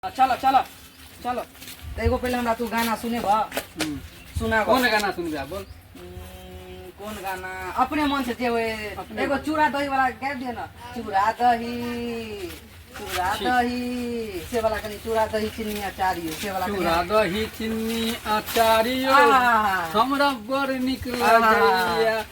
आ, चलो चलो चलो तो एगो पहले हमरा तू गाना सुने बा सुना कौन गाना सुनबे आप बोल हम्म, कौन गाना अपने मन से जेवे अपने एगो मन। चूड़ा दही वाला गाबि दिए ना चूड़ा दही चूड़ा ठीक। दही से वाला कनी चूड़ा दही चीनी अचारी हो, से वाला कनी- चूड़ा दही चिन्नी अचारियो आहा। हमरा बड़ निक आहा। लगैया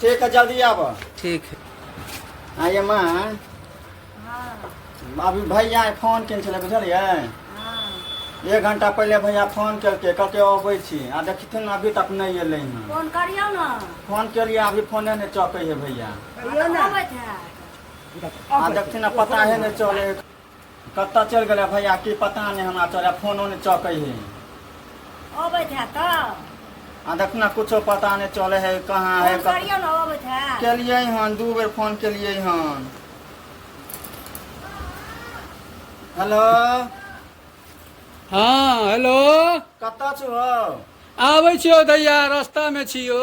ठीक है जल्दी आब ठीक है आ ये माँ अभी भैया फोन केने छलै बुझलियै एक घंटा पहिले भैया फोन केलकै कहलकै अबै छी आ देखथिन ने अभी तक नहि एलै हँ फोन करियौ ने फोन केलियै अभी फोने नहि चकै है भैया कहियौ ने आ देखथिन ने पता है नहि चलै है कत्ता चल गेले भैया की पता नहीं हमरा चले फोनो नहीं चौके है अबैत है त आ देखना कुछो पता नहीं चले है कहाँ है फोन करियो न अबैत है के लिए हन दू बेर फोन के लिए हन हेलो हाँ हेलो कत्ता छु हो आबै छियौ दैया रस्तामे छियौ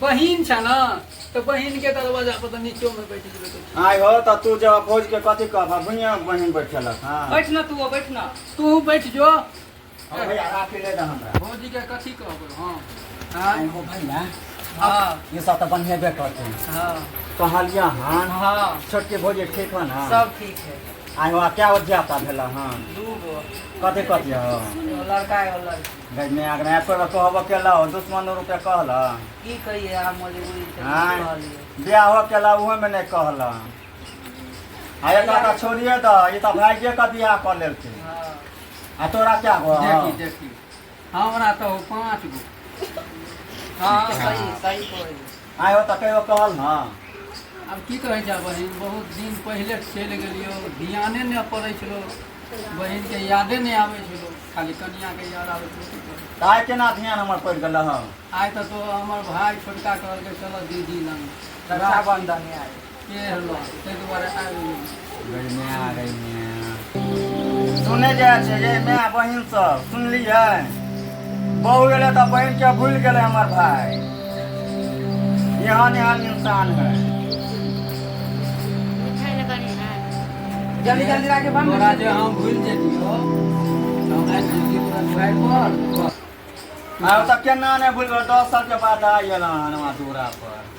बहिन छ न त बहिन के दरवाजा पर त नीचो में बैठ गेल तो आय हो त तू जब भोज के कथी कहबा भुइया बहिन बैठलक हां बैठ न तू बैठ न तू बैठ जो ओ भैया राखी ले दे हमरा भौजी के कथी कहबो हां हां आय हो भैया हां ये सब त बनिए बे करते हां कहलिया हां हां छोटके भोज ठीक हो ना सब ठीक है आय हो आ क्या उद्यापा भेला हां दू गो कथी कथी हो लड़का है लड़की गजने आग नया कोई कहब अकेला हो दुश्मन और के कहला की कहिए हम मजबूरी से हाँ। नहीं कहलिए ब्याह हो अकेला उहो में नहीं कहला आ एकरा का छोड़िए द ई त भाइये का बियाह कर लेलके हाँ। आ तोरा क्या हो देखी देखी हमरा तो पाँच गो हाँ सही सही कहलिए आय हो तकै हो कहल ना आब की कहै छै बहिन बहुत दिन पहिले चलि गेलियो ध्याने नहि पड़ै छलो बहिनके यादे नहि आबै छलो खाली कनियाके याद आबै छलो की करै तऽ आय केना ध्यान हमर पड़ि गेल हँ आइ तऽ तो हमर भाय छोटका कहलकै चलऽ दीदी लग रक्षाबंधन आय सुनै जाइ छै ये माय बहिन सब सुनलियै बहु गेलै तऽ बहिन के भूल गेलै हमर भाय एहन एहन इंसान है जल्दी जल्दी राखे बम तोरा जे हम भूल जेतियो तऽ हमरा जिंदगी पूरा छोड़ि पर आब तऽ केना नहि भूलबै दस साल के बाद आयल हन हमरा दूरा पर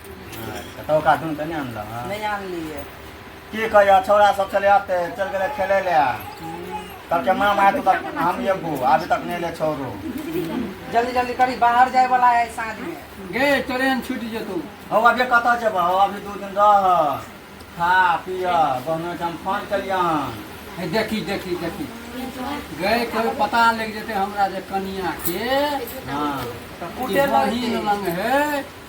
अच्छा, तो ओकरा ढूंढ के नहीं आनलो हाँ नहीं आन लिए की कहियो छौड़ा सब चले आते चल गेले खेले ले तब के मामा आए तो तक हम ये बू अभी तक नहीं ले छोड़ू जल्दी जल्दी करी बाहर जाए वाला है साँझ में गे ट्रेन छूट जेतौ हो अभी कतऽ जेब हो अभी दू दिन रह खा पिय बहनो के हम फोन केलियै हन हे देखी देखी देखी गे कोई पता लग जेते हमरा जे कनिया के हाँ तऽ कुटे बहिन लगतै लंग है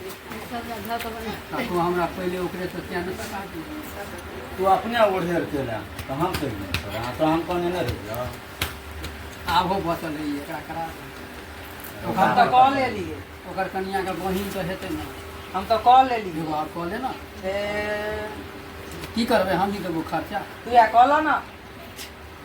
तू हमरा पहिले ओकरे से क्या ने पता तू अपने ओढ़ेर के ले तो हम कह दें तोरा हाँ, तो हम कहने नहीं रह जाओ आबो बचल है एकरा करा हम तो कॉल ले लिए ओकर कनिया के बहिन तो हेतै ना हम तो कॉल ले लिए एगो आब कॉल ले ना की करबे हम ही देबो खर्चा तू या कॉल ना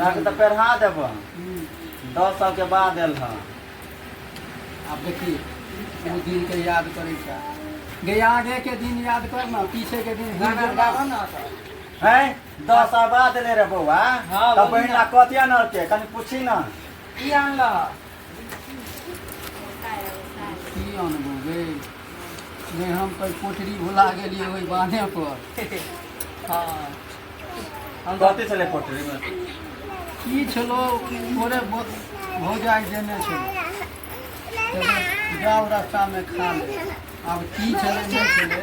रंग तऽ पेढ़ा देबऽ दस साल के बाद एल हँ आब देखी ओ दिन के याद करे छै गे आगे के दिन याद कर ना पीछे के दिन भूल गाना गेल। गाबऽ ना तऽ। हैं दस साल बाद एले रे बौआ हाँ, तब बढ़िया। बहिना कतिया न होते कनी पूछी न की आनलह की अनबो गे नहि हम तऽ कोठरी भुला गेलियै ओहि बाने पर हँ हम कथी छलै पोटरीमे की छलो ओरे भौजाइ देने छलो तकर जाउ रास्तामे खा ले आब की छलै नहि छलै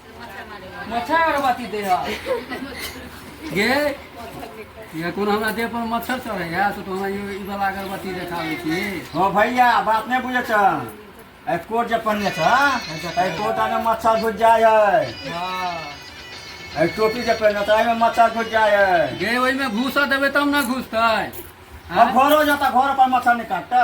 मच्छर अगरबत्ती दे गे ये कोन हमरा देह पर मच्छर चढ़े है तो हमरा ई वाला अगरबत्ती देखावे छी हो भैया बात नहीं बुझे छ ए कोट जे पन्ने छ ए कोट आने मच्छर घुस जाय है हां ए टोपी जे पहने त में मच्छर घुस जाय है गे ओइ में घुसा देबे तब ना घुसतै अब घरो जाता घर पर मच्छर नहीं काटता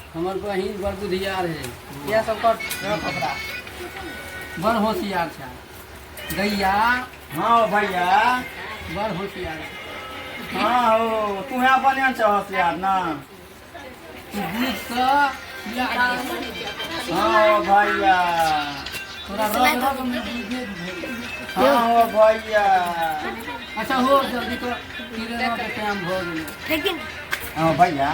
हमर बहिन बड़ बुधियार है इएह सब कर रख ओकरा बड़ होशियार छै गैया हाँ भैया बड़ होशियार छै। हाँ हो तू यहाँ बनिया छह होशियार ना तू बुझ कऽ बियाह कर। हाँ हो भैया तोरा रग रग में बुझे भेल। हाँ हो भैया अच्छा हो जल्दी कर किरण के टाइम भऽ गेलै लेकिन हाँ भैया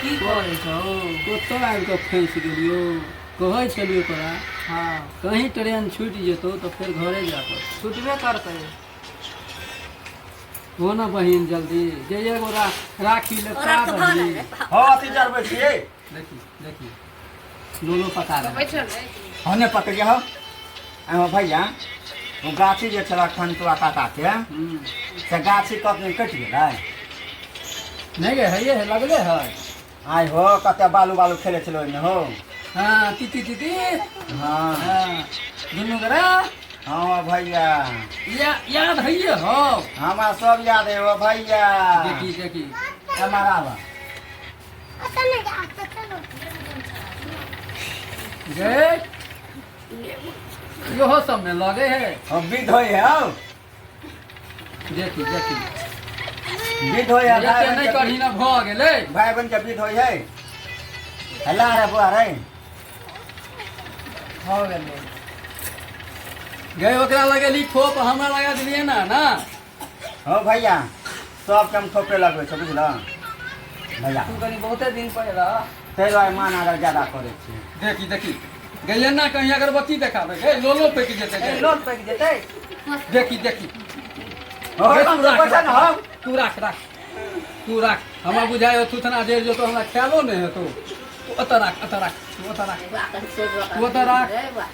की करै छौ कतऽ आबि कऽ फँसि गेलियौ कहै छलियौ तोरा हँ कहीं ट्रेन छूटि जेतौ तऽ फेर घरे जा पड़ छुटबे करतै हो ने बहिन जल्दी जे एगो रा- राखी ले का बहिन हँ अथी जरबै छियै देखी देखी लोलो पता रहे बैठल रहे हने पकड़ गया हो एमे भैया वो गाछी जे छला खनतुआ काका के हम्म। से गाछी कब नहीं कट गेलै नहीं गे है ये है लगले है आय हो कते बालू बालू खेले छलो ओहिमे हो हाँ तीती तीती हाँ हाँ दुनू करा हाँ भैया या, याद है ये हो हमरा सब याद है ओ भैया देखी देखी एमहर आबह इहो सब में लगे है हम भी धोए हैं हम देखी देखी भी धोए हैं भाई बहन नहीं जब करी भी- ना भऽ गेलै भाई बहन जब भी धोए है हल्ला रे बुआ रे भऽ गेलै गए ओकरा लगेली ठोप हमरा लगा देलियै ना ना हँ भैया सबके हम थोपे लगबै छै बुझल भैया तू कनी बहुते दिन पर रह ताहि दुआरे मान अगर ज्यादा करै छी देखी देखी गैया ना कहीं अगरबत्ती देखाबे हे लोलो पैक जेते ए, लोन पैक जेतै देखी देखी हँ, हे, कम तू से राख, पैसा ने राख, हम तू राख राख तू राख हमरा बुझाय तू तना देर जो तो हमरा ख्यालो नहीं है तू तू ओतऽ राख ओतऽ राख तू ओतऽ राख तू ओतऽ राख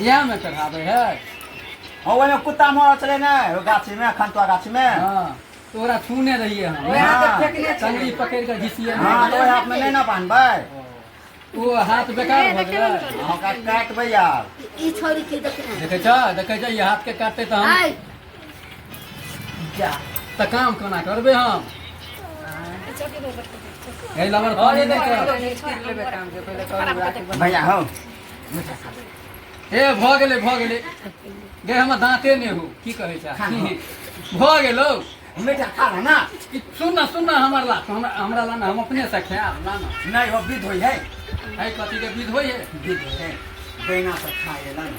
इएह में चढ़ाबे है हाँ ओहिमे कुत्ता मरल छलै ने ओ गाछीमे खनतुआ गाछीमे हाँ तोरा छूने रहिए हम ओहे हाथ हाँ। फेकने छलै। टंगड़ी पकड़ के घिसिए हाँ तऽ ओहि हाथमे नहि ने बान्हबै ओ हाथ बेकार भऽ गेलै अहाँ काटि काटबै यार ई छोरी की देखने देखे छ देखे छ ई हाथ के काटते तऽ हम आइ जा तऽ काम कोना करबे हम ए लवर कॉल दे के भैया हौ ए भऽ गेलै भऽ गेलै गे हमर दाँते नहि हो की कहै छै भऽ गेलौ बेटा खा रहा ना ई सुन न सुन न हमर ला हमरा हमरा ला न हम अपने से खायब ला न नहीं वो विध हुई है है कथी के विध होइ है विध हुई है बेना सब खाए ला ना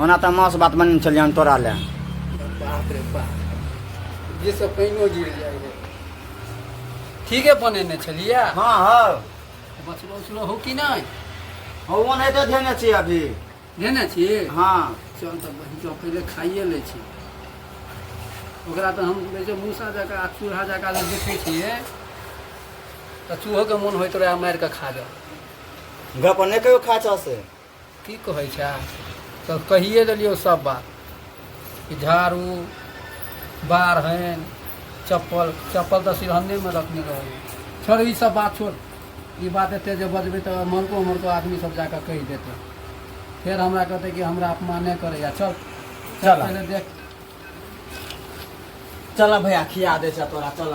ओना तऽ मास बात बन चल जान तोरा ले बाप रे बाप जे सब पानियो गिर जाइ रे ठीके बनेने छलियै हाँ हाँ बचलो उचलो हो कि नहि हो वो नहीं तो देने चाहिए अभी देने छी हाँ चल तऽ बहिन चल पहिले खाइए लै छी ओकरा तऽ हम कहै छै मूसा जकाँ आ चूल्हा जकाँ जे देखै छियै तऽ चूहोके मोन होइत रहै मारि कऽ खा जाउ घर पर नहीं कहियो खा चाह से की कहै छै तऽ कहिए देलियौ सब बात कि झाड़ू बारहन चप्पल चप्पल तऽ सिरहन्नेमे रखने रहबै छोड़ ई सब बात छोड़ ई बात एते जे बजबै तऽ मरको मरको आदमी सब जाकऽ कहि देतै फेर हमरा कहतै कि हमरा अपमाने करैया चल चल चल। पहिले देख चल भैया खिया दे छै तोरा चल